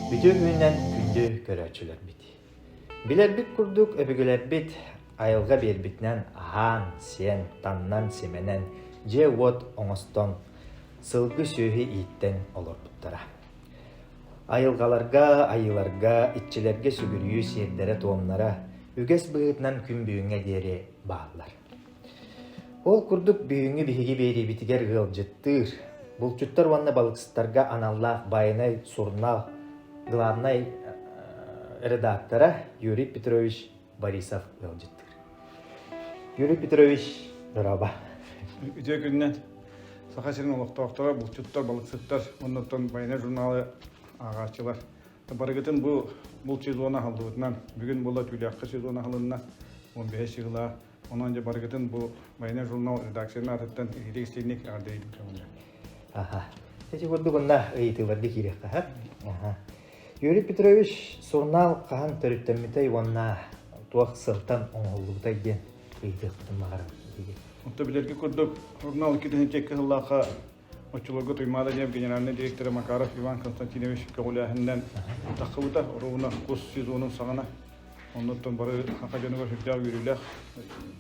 Бүтүн үүнэн күндү көрөөччүлэрбит. Билэрбит курдук өбүгэлэрбит айылга биэрбитинэн аһаан, сиэн, таҥнан, симэнэн дьиэ-уот оҥостон, сылгы-сүөһү ииттэн олорбуттара. Айылгаларга, айыыларга, иччилэргэ сүгүрүйүү сиэрдэрэ-туомнара үгэс быһыытынан күн бүгүҥҥэ диэри бааллар. Ол курдук бүгүҥҥү биһиги биэриибитигэр ыалдьыттыыр, булчуттар уонна балыксыттарга аналлаах байанай сурунаал главнай редактора Юрий Петрович Борисов ыалдьыттыыр. Юрий Петрович, ыраба. Үтүө күнүнэн Саха сирин олохтоохторо, булчуттар, балыксыттар уонна оттон байанай журналы ааҕааччылар Барыгытын бу булт сезон аһыллыбытынан бүгүн була түүлээххэ сезон аһылынна 15 сыгыла. Онон дьэ барыгытын бу Военный журнал редакцияны атыттан иһитик истинник аҕардайбыт көҥүлэ. Аха. Течи курдук онна ыйытыыларды киириэххэ хат. Аха. Юрий Петрович сурнаал хаһан төрүттэммитэй уонна туох сылтан оҥоһуллубутай диэн ыйытыахпытын баҕарабын. Отто билэрге курдук журнал икки тыһынчекке оччолорго Туймаада диэн генеральнай дириэктэрэ Макаров Иван Константинович көҕүлээһининэн тахсыбыта оруобуна кус сезонун саҕана. Оннуттан бары саха дьонугар сүрдээх үөрүүлээх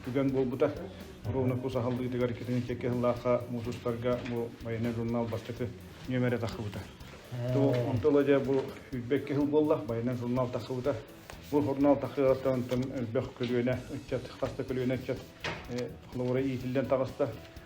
түгэн буолбута. Оруобуна кус аһыллыытыгар китини кэкки аһыллаахха муусустарга бу военный журнал бастакы нүөмэрэ тахсыбыта. Онто ыла дьэ бу сүүрбэккэ сыл буолла, военный журнал тахсыбыта. Бу журнал тахсыаттан элбэх көлүөнэ ыччат, хас да көлүөнэ ыччат холобура иитиллэн таҕыста.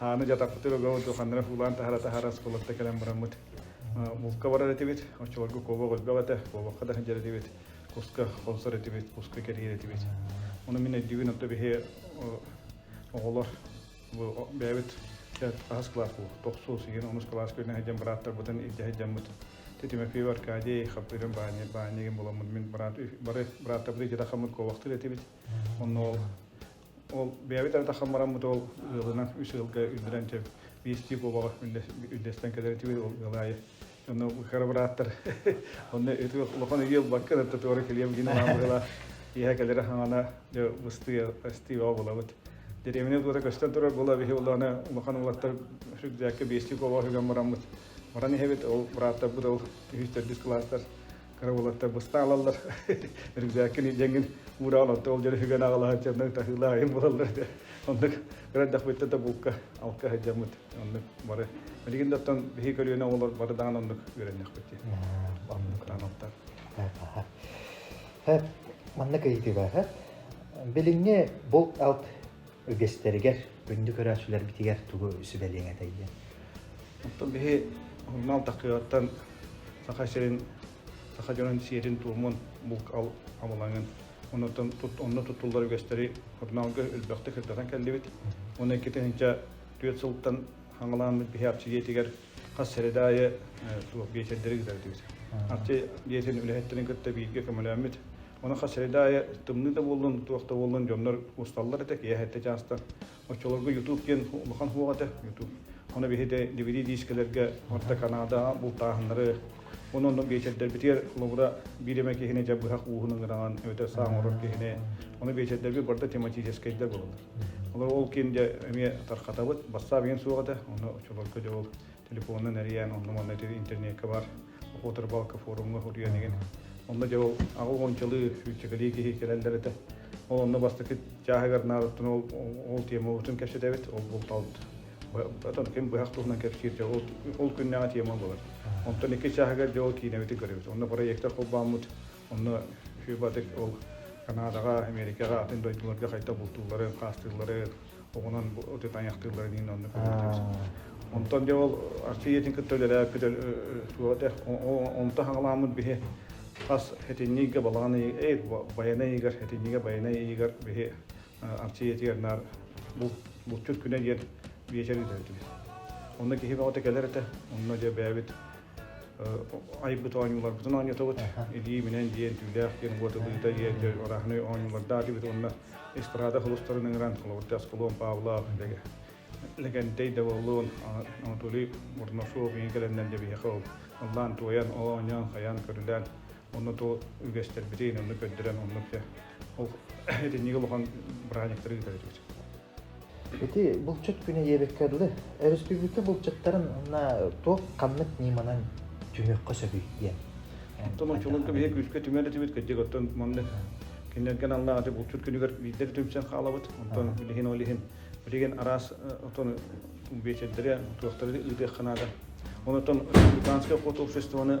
Ааны дьатаппытыгар Уга ордук Хандрах ылаан таһара-таһара оскуолатта кэлэн бараммыт. Булка барар этибит, оччолорго куобах элбэх этэ, куобахха да сылдьар этибит, куска хонсор этибит, куска кэрийэр этибит. Ону мин өйдүүбүн, онто биһи оҕолор бу бэйэбит хаһыс кылаас бу тохсуус иһин онус кылаас күнүн сылдьан бырааптарбытын илдьэ сылдьаммыт Тимофеев Аркадий Хапырым баанньа баанньыгын буламмыт мин быраат бары бырааптарбыт илдьэ тахаммыт куобахтыыр этибит онно ол Ол бэйэбит ардаххан бараммыт ол ыалынан үс ыалга үмүрэн чэ биэстии буобаҕа үллэстэн кэдэрэтибит ол ыал аайы онно кыра бырааттар онно ити улахан үйэ ылбаккын ытта туора кэлиэм гин анаабыгыла иһэ кэлэрэ хаҥана дьэ ыстыы ыстыыҕа булабыт деревня туора көстөн турар була биһи улаана улахан улаттар сүрдээккэ биэстии буобаҕа сүгэн бараммыт баран иһэбит ол бырааттарбыт ол үһүстэрдис кылаастар карабылаттарбыста алаллар рюкзаккын идеҥин уураал отто ол дьон үһүгэн аҕалаһаччаннан таһыылаайым буоллар да оннук кырайдахпыттан да булка алка сылдьаммыт оннук бары билигин да оттон биһи көлүөнэ оҕолор бары даҕан оннук үөрэннэхпит дии анаттар манна кыйытыба билиҥҥи булт алт үгэстэригэр, күндү көрөөччүлэрбитигэр тугу сүбэлиэҥ этэй диэн? Оттон биһи урунаал такыгаттан саха сирин, саха дьонун сиэрин-туомун булк амылаҥын, онон онно туттуллар үгэстэри урунаалга өлбөхтө кырдатан кэллибит. Уонна икки тыһыынча түөрт сылтан хаҥалаан биһи апсидиэтигэр хас сэрэдаайы туох биэчэрдэри ыытардыбыт. Апсидиэтин үлэһиттэрин кытта бииргэ көмөлөммүт Онуха средаайа тымныы да буоллун, туох да буоллун дьоннор усталлар этэ, киэһэ этэ чаастан. Оччолорго YouTube диэн улахан хуох этэ, YouTube. Ону биһиги DVD-диискэлэргэ орто Канада бултааһыннары, онон биэчэрдэрбитигэр холобура биир эмэ киһини дьэ быһах ууһун ыҥыраҥан эбэтэр саҥа орор киһини ону биэчэрдэрбит барда тематическайдар буолалар. Олор ол киин дьэ эмиэ тархатабыт, бассаап иҥин суох этэ, ону оччолорго дьэ ол телефонунан эрийэн онно-манна интернекка бар Уотарбаалка форумҥа утуйан игин. Онно дьэ ол аҕы уончалыы сүүччэкэлии киһи кэлэллэр этэ. Ол онно бастакы чааһыгар наадаттан ол ол тиэмабытын кэпсэтэбит, ол бултаабыт. Отон ким быһах туһунан кэпсиир дьэ ол ол күннээҕи тиэмэ буолар. Онтон икки чааһыгар дьэ ол киинэбитин көрөбүт. Онно проектор холбооммут Онно Хью Патрик ол Канадаҕа, Эмиэрикэҕэ атын дойдуларга хайдах бултууллары, хаастыыллары оҕунан ити тайахтыылларын иһин онно көрүллүбүт. Онтон дьэ ол Арчы ийэтин кытта үлэлээппит туох этэ онто хаҥалааммыт биһи хас этинньигэ балаҕан ыйыгар Байанай ыйыгар этинньигэ Байанай ыйыгар биһи Апчиятыгар наар булчут күнэ диэн биэчэрин төрүтүбүт. Онно киһи бөҕөтө кэлэр этэ, онно дьэ бэйэбит айбыт оонньууларбытын оонньотобут. Илии минэн диэн, түүлээх диэн, уот ылыыта диэн, орааһынай оонньуулардаах диэбит уонна эстрада холустарын ыҥыран, холобурда Аскалон Павлов, Лэгэнтэй Даволлон, Анатолий Борносов, ийэ кэлэннэн дьэ биһиэхэ ыллаан туойан, оонньоон, хайаан көрүлээн Онно ту үгэстэрбити инанны көрдөрөн оннук те ол итинниги улахан бырайниктары ыытар этибит. Ити булчут күнэ ебекке дылы өрөспүүбүлүкэ булчуттарын на туох ханнык ниманан түмөккө сөбүй диэн. Оттон чулунка биһи күскэ түмэн этибит кэддик оттон манны кинилерген алла ати булчут күнүгэр биирдер түмсэн хаалабыт. Оттон билигин олиһин билигин араас оттон бечердери туохтары ыытыах канада. Онотон Британское хот обществоны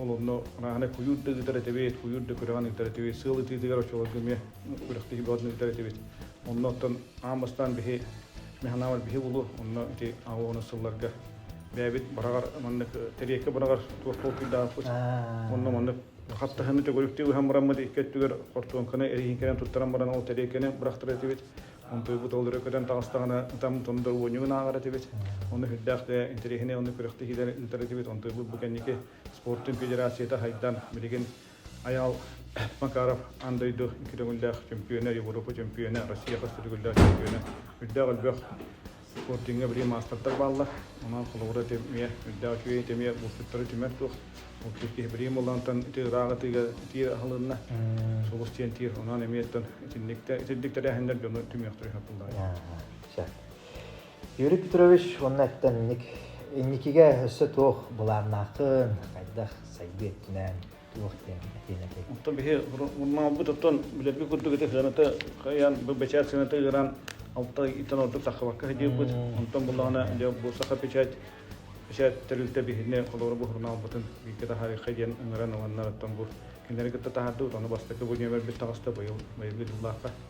ол онно мааны куйуур да ыытар этибит, куйуур да күрэҕин ыытар этибит, сыал ытыытыгар оччолорго эмиэ күрэхтиһии баҕатын ыытар этибит. Онно оттон аан бастаан биһи механамар биһи булу, онно ити АО сылларга бэйэбит быраҕар маннык тэриэккэ быраҕар туох толкуйдаахпыт. Онно маннык хаттаһыны төгүрүктүү ыһан бараммыт икки өттүгэр хортуоҥканы эриһииҥкэнэн туттаран баран ол тэриэккэни бырахтар этибит. Антыйбыт ол өрө көтөн таҕыстаҕына, там тонда уонньугун ааҕар этибит. Ону үрдээх интэриэһинэй онно күрэхтэһиилэр ыытар этибит. Антыйбыт бу кэнники спортун федерацията хайдан, билигин Айаал Макаров аан дойду икки көҥүллээх чөмпүйүөнэ, Европа чөмпүйүөнэ, Россия хас да төгүллээх чөмпүйүөнэ, үрдээх өлбөх Спортивҥа билигин маастардар бааллар. Онон холобура ити эмиэ, үрдээх үчүгэй ити эмиэ булчуттары түмэр туох. Ол киһи билигин буоллаҕыттан ити ыраах атыыга тиир аһылынна. Сулус диэн тиир, онон эмиэттэн итинник тэрээһиннэр дьону түмүөхтэрэ хапыллаҕа. Юрий Петрович уонна эттэнник инникигэ өссө туох былааннааххын, хайдах сайдыы өттүнэн туох диэн Атина Тек. Оттон биһи мурмалбыт оттон билэрги курдук ити сыаната хайан бу бэчээт сыаната ыыран алта итен ордук сахабакка хидиирбит онтон буллаҕына дьэ бу саха печать печать тэрилтэ биһини холобура буһурунаалбытын бииргэ таһаарыхха диэн ыҥыран ыланнар оттон бу кинилэри кытта таһаардыбыт ону бастакы бу нөмөрбүт таҕыста быйыл быйылгы дьыллаахха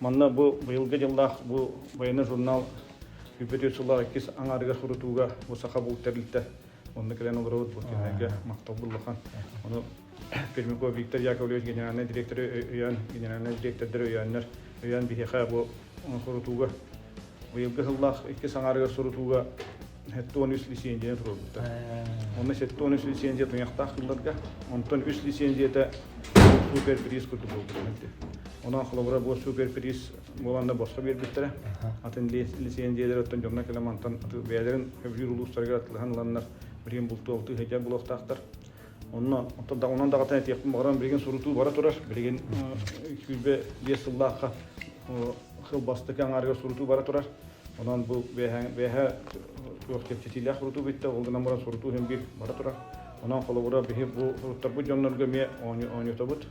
Манна бу быйылгы дьыллаах бу военный журнал үбүтү сыла иккис аҥаарыга сурутууга бу саха булт тэрилтэ онно кэлэн олоробут бу кинигэ махтал буллахан ону Пермяков Виктор Яковлевич генеральнай директоры өйөөн генеральнай директордары өйөөннөр өйөөн биһиэхэ бу сурутууга быйылгы сыллаах иккис аҥаарыгар сурутууга Сэттэ уон үс лиссиэндьийэ турбуттар. Онно сэттэ уон үс лиссиэндьийэ туйахтаах кылларга, онтон үс лиссиэндьийэтэ суперприз курдук буолбутун Онон холобура бу суперприз буолан да босхо биэрбиттэрэ. Атын лиссиэндьийэлэр оттон дьоҥҥо кэлэ мантан бэйэлэрин өбүлүүр улуустарыгар атылыһан ыланнар, билигин бултуобуту иһэйдэр булуохтаахтар. Онно онон даҕатан этиэхпин баҕарам билигин сурутуу бара турар. Билигин сүүрбэ биэс сыллаахха хыл бастакы аҥаарыгар сурутуу бара турар. Онон бу бэйэһэ туох кэпсэтиилээх сурутуу бүттэ, ол гынан баран сурутуу иһин биир бара турар. Онон холобура биһи бу суруттарбыт дьоннорго эмиэ оонньотобут,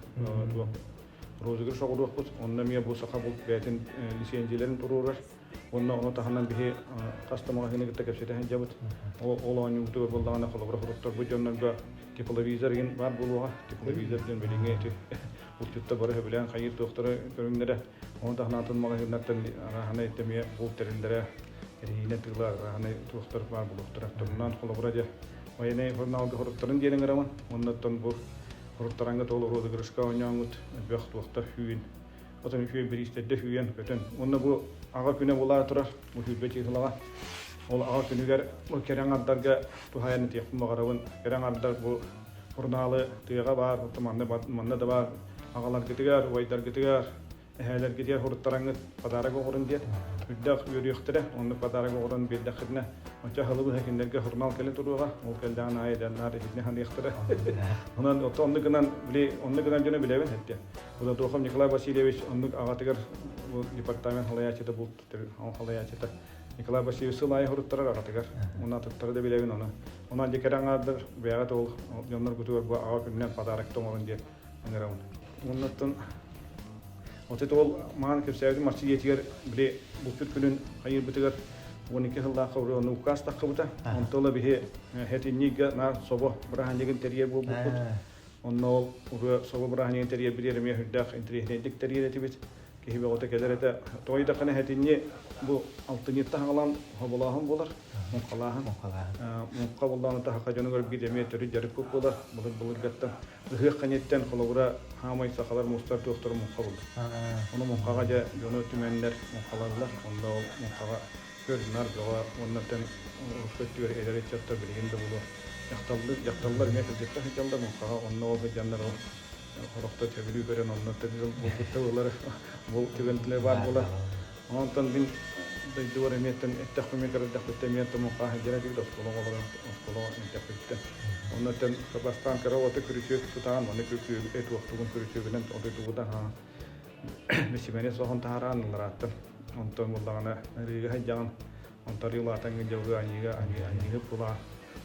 розыгрыш оҕуруохпут, онно эмиэ бу саха булт бэйэтин лиссиэндьийэлэрин туруорар. Онно ону таһынан биһи тас да магазины кытта кэпсэтэн сылдьабыт. Ол оонньуубутугар буоллаҕына холобур отторбут дьоннорго тепловизор гин бар буолуоҕа. Тепловизор диэн билиҥҥи эти булчутта бары сөбүлээн хайыыр туохтары көрүҥнэрэ. Ону таһынан атын магазиннартан арааһанай эмиэ булт тэриллэрэ эриһиинэн тыла арааһанай туохтар баар булуохтара. Торунан холобура дьэ военный журналга хоруттарын диэн ыҥырамын. Оннуттан бу хоруттараҥҥа толору ыгырышка оонньооҥҥут элбэх туохтар хүүн Хотон үтүө бириистэрдэ сүүйэн-көтөн. Уонна бу аҕа күнэ булаа турар, бу сүүрбэ чыыһылаҕа. Ол аҕа күнүгэр бу кэрэҥ ардарга туһайан этиэхпин баҕарабын. Кэрэҥ ардар бу сурунаалы тыаҕа баар, манна да баар аҕаларгытыгар, убайдаргытыгар, эһээлэргитигэр суруттараҥҥыт подарок оҕорун диэн үрдэх үөрүөхтэрэ. Оннук подарок оҕорун биэрдэххитинэ, оччо аһылыбыһа кинилэргэ сурунаал кэлэ туруоҕа. Ол кэллэҕин аайы да наар иһитинэ саныахтара. Онон оттон оннук гынан, били, оннук гынан дьону билэбин эттэ. Кудатохов Николай Васильевич оннук аҕатыгар бу департамент халайааччыта булт халайааччыта Николай Васильевич сыл аайы хоруттарар аҕатыгар. Уна аттыттара да билэбин ону. Онон дьэ кэрэ аҥаардар бэйэҕит ол дьонноргутугар бу аҕа күнүнэн подарок оҥорун диэн ыҥырабын. Оннуттан отут ол маан кэпсээбитим марчы дьиэтигэр били булчут күнүн хайыырбытыгар 12 сыллаахха уже ону укаас таххыбыта. Онто ыла биһи э, хэтинниггэ наар собо быраһанньыгын тэрийэр буолбуппут. Онно ол ырыа соло бырааһынньыгын тэрийэрбит эмиэ сүрдээх интэриэһинэйдик тэрийэр этибит. Киһи бөҕөтө кэлэр этэ. Тоҕо дэххине этинни бу алтынньыт таһаҕалаан хоболооһун буолар, муҥхалааһын. Муҥхалааһын. Муҥха буллаҕына таһаха дьону көрбүт эмиэ төрүт дьарыкпыт буолар. Былыт былыргаттан ыһыах кэнниттэн холобура хаамай сахалар мустар туохтара муҥха булар. Ону муҥхаҕа дьэ дьону түмэннэр муҥхалаллар. Онно ол муҥхаҕа көр-нар бөҕө уонна эн Омскай түөһэ эдэр ыччаттар билигин да буолуо дьахталлар дьахталлар эмиэ кырдьыктаах ыччаллар муҥхаҕа онно ол сыдьаннар ол хорохто төбүлүү көрөн онно төрүүр булгутта ылар бұл түгэнтэлэ баар буолар онтон мин дойдубар эмиэттэн эттэхпэ мин көрдөхпүттэн эмиэн тумуха дьиэ тигит оскуола олорон оскуола мэттэхпиттэн онно тэн бастаан кыра уота күрүчүөт тутаан манна күрүчүөг эт уохтугун күрүчүөгүнэн о дойдубута Мичимэни соһон таһараан ылларааттан. Онтон булдаҕына ырыыга хайдьаҕын, онтон ырыылаатаҥҥа дьылгы аньыыга аньыыга булаа.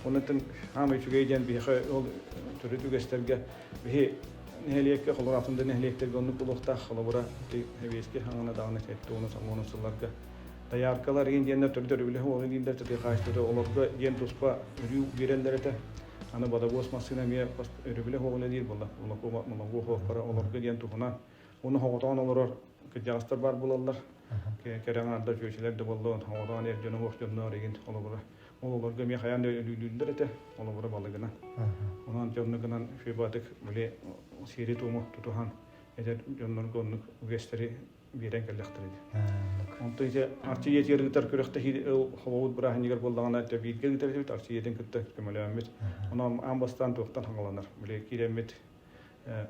Оннуттан хаама үчүгэй диэн биһиэхэ ол төрүт үгэстэргэ биһи нэһилиэккэ холоратын да нэһилиэктэргэ оннук булуохтаах холобура эбиэски хаҥана даҕаны сэттэ уонус самуонус сылларга дояркалар диэннэр төрүт өрүбүлэһэ ол илиилэр тытыхаачтары олорго диэн туспа өрүү биэрэллэр этэ Аны бодобуос массыына эмиэ бас өрөбүлэ оһоҕун үлэлиир буолла. Моногуоһуохтара олорго диэн туһунан. Уну хоҕотоон олорор кырдьаҕастар баар булаллар. Кэрэ аҥаарда чүөчүлэр да боллон, хоҕотоон эр дьоно уох дьонноор игин олобура. Ол олорго эмиэ хайаан да өлүүлүүллэр этэ, олобура балыгынан. Онон дьоннугынан фебатык били сиэри туому тутуһан эдэр дьоннорго оннук үгэстэри биэрэн кэллэхтэр ити. Онтон ise арчыйэтигэр ыытар күрэхтэһии холобут бырааһынньыгар буоллаҕына дебиитгэ ыытарбыт арчыйэтин кытта көмөлөммүт. Онон аан бастаан туохтан хаҥаланар. Биле киирэммит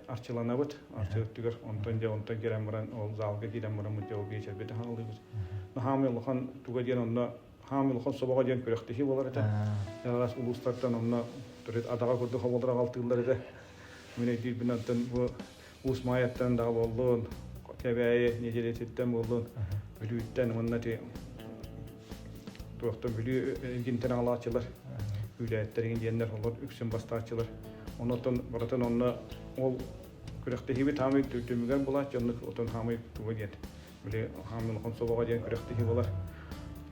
арчыланабыт арчыттыгар онтон дьэ онтон киирэн баран ол заалга киирэн баран мутдьау биэчэрбит хааллыбыт. Наһаамы улахан туга диэн онно хаамы улахан собоҕо диэн күрэхтэһии болар этэ. Ялаас улуустартан онно төрүт адаҕа курдук хоболдор аҕалтыыллар этэ. Мин өйдүүрбүн онтон бу Уус Маайаттан даҕа буоллун, Кэбээйи нэдиэлэтиттэн буоллун, Бүлүүттэн уонна туохта Бүлүү эргинтэн аҕалааччылар, күүлээттэригин диэннэр олор үксүн бастааччылар. Онон барытын онно ол күрэхтэһиибит хаамый түмүгэр булааччы, оннук отон хаамый туга диэн били хаан дьон хомсобоҕо диэн күрэхтэһии буолар.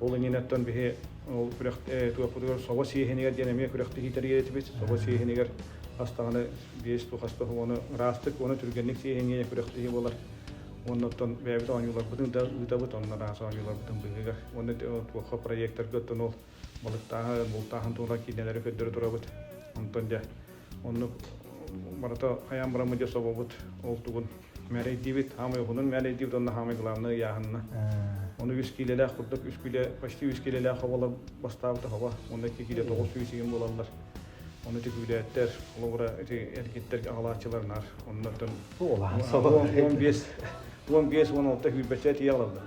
Ол иннинэттэн биһи ол күрэх туохпутугар собо сиэһинигэр диэн эмиэ күрэхтэһии тэрийэтибит. Собо сиэһинигэр бастаҕына биэс туох астах уону ыраастык уону түргэнник сиэһиниэ күрэхтэһии буолар. Оннуттан бэйэбит оонньууларбытын да ыытабыт, онно араас оонньууларбытын быыһыгар. Уонна туохха проектарга оттон ол Балыктааһы, бултааһын туһунан киинэлэри көрдөрө турабыт. Онтон дьэ оннук барыта хайаан бараммыт дьэ собобут ол тугун мээрэйдиибит, хаамай ухунун мээрэйдиибит уонна хаамай главнай ыйааһынна. Ону үс киилэлээх курдук үс киилэ почти үс киилэлээх хобола бастаабыта хоба уонна ити киилэ тоҕус сүүс игин буолаллар. Ону тükүүлээттэр, холобура ити эргиттэр аҕалааччыларнаар. Оннортон он бес, он бес, он алта күүрбэчэ тиийалаллар.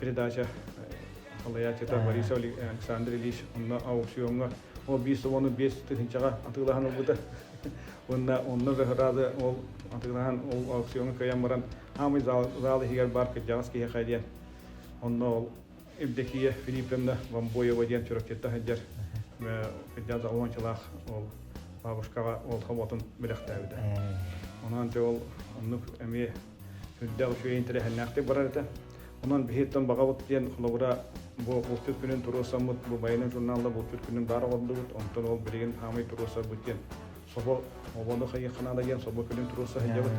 передача халаятита Борис Александр Ильич онно аукциоҥҥа ол биэс уону биэс тыһынчаҕа атыылаһан ылбыта уонна онно быһараады ол атыылаһан ол аукциоҥҥа кыйан баран аамый зал зал иһигэр баар кырдьаҕас киһи хайдиан онно ол Евдокия Филипповна Вамбоева диэн чурапчытта сылдьар кырдьаҕас уончалаах ол бабушкаҕа ол хоботун бэлэхтээбитэ онон те ол оннук эмиэ Үрдээх үчүгэй интэриэһиннээхтик барар этэ. Онон биһиттэн баҕабыт диэн холобура бу бултур күнүн туруосаммыт, бу байанай журналда бултур күнүн баара ордубут, онтон ол билигин аамай туруосарбыт диэн собо обону хайыханаада диэн собо күнүн туруоса сылдьабыт.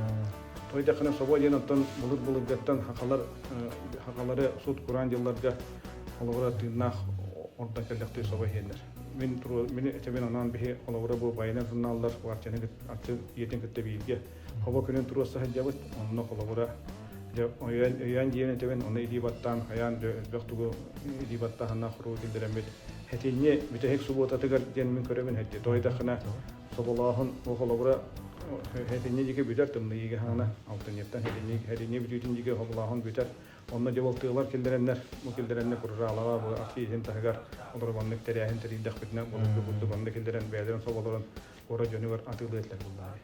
Той дахана собо диэн оттон былыр-былыргаттан хахалар хахалары сут кураан дьылларга холобура тыыннаах орда кэллэхтей собо хиэннер. Мин мен этебин анан бихи холобура бу байанай журналдар варчаны атын иетин кытта биирге Хоба күнүн туруоса сылдьабыт, онно холобура өйөөн диэн этэбин, оны илии баттаан хайаан да элбэх тугу илии баттааһына хоруу киллэрэммит. Этиньи бүтэһик субуотатыгар диэн мин көрөбүн эдди. Тойдахына соболооһун о холобура этиньи диги бүтэр тымныйыга хана алтыньыттан этиньи этиньи бүтүүтүн диги хоболооһун бүтэр. Онно дьабылтыылар киллэрэннэр бу киллэрэннэ курраалаҕа бу ахтииһин таһыгар олорбаннык тэрээһин тэрийдэхпитинэ булду курдубанны киллэрэн бэдэрин соболорун куора дьонугар атыылыы этилэр буоллаҕа.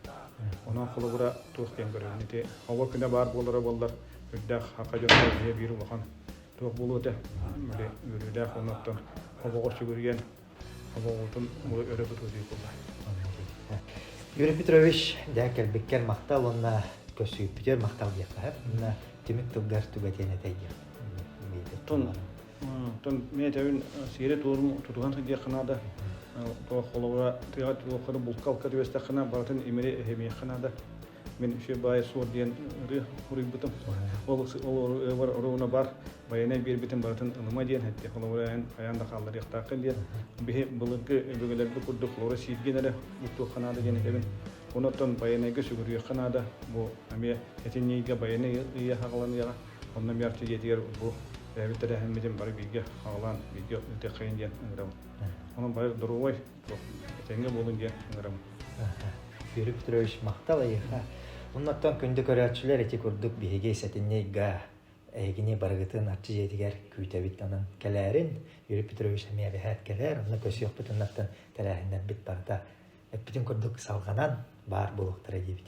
Онон холобура туох диэн көрөбүн ити оҕо күнэ баар буолара буоллар үрдээх хакка дьонугар дьиэ биир улахан туох буолуо этэ били үөрүүлээх оннуттан хобоҕо сүгүрүйэн хобоҕутун өрө тутуутуй буолла. Юрий Петрович дьэ кэлбиккэр махтал уонна көсүйпүтүгэр махтал диэххэ Тимир тылгар түгэтиэн этэй диэн. Оттон мен этэбин сиэри туорум тутуһан сылдьыаххына да холобура тыаҕа туохха да булка-алка түбэстэххина барытын имири эһэмиэххина да мен үсүө баайа суор диэн ырыа уруйбутум ол ол орууна бар байанай биэрбитин барытын ылыма диэн этти холобура эн хайаан да хаалларыахтааххын диэн биһи былыргы өбүгэлэрбит курдук лора сииргин эрэ бултуохханаа диэн этэбин онуттан байанайга сүгүрүйүөхханаа да бу эмиэ этинньийгэ байанай ыйа хаҕыланыаҕа Онно Мярча дьиэтигэр бу бэйэбит тэрээһиммитин бары бииргэ аҕалаан бииргэ ытыаххайын диэн ыҥырабын. Онон бары доруобай, этэҥҥэ буолун диэн ыҥырабын. Юрий Петрович, махтал эйиэхэ. Оннуттан күндү көрөөччүлэр ити курдук биһиги сэтинньийгэ эһигини барыгытын Арчы дьиэтигэр күүтэбит анан кэлээрин. Юрий Петрович эмиэ бэһээт кэлээр, онно көсүөхпүт оннуттан тэрээһиннэрбит барыта эппитин курдук салҕанан баар буолуохтара диибит.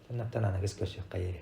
Оннуттан аныгыс көрсүөххэ диэри.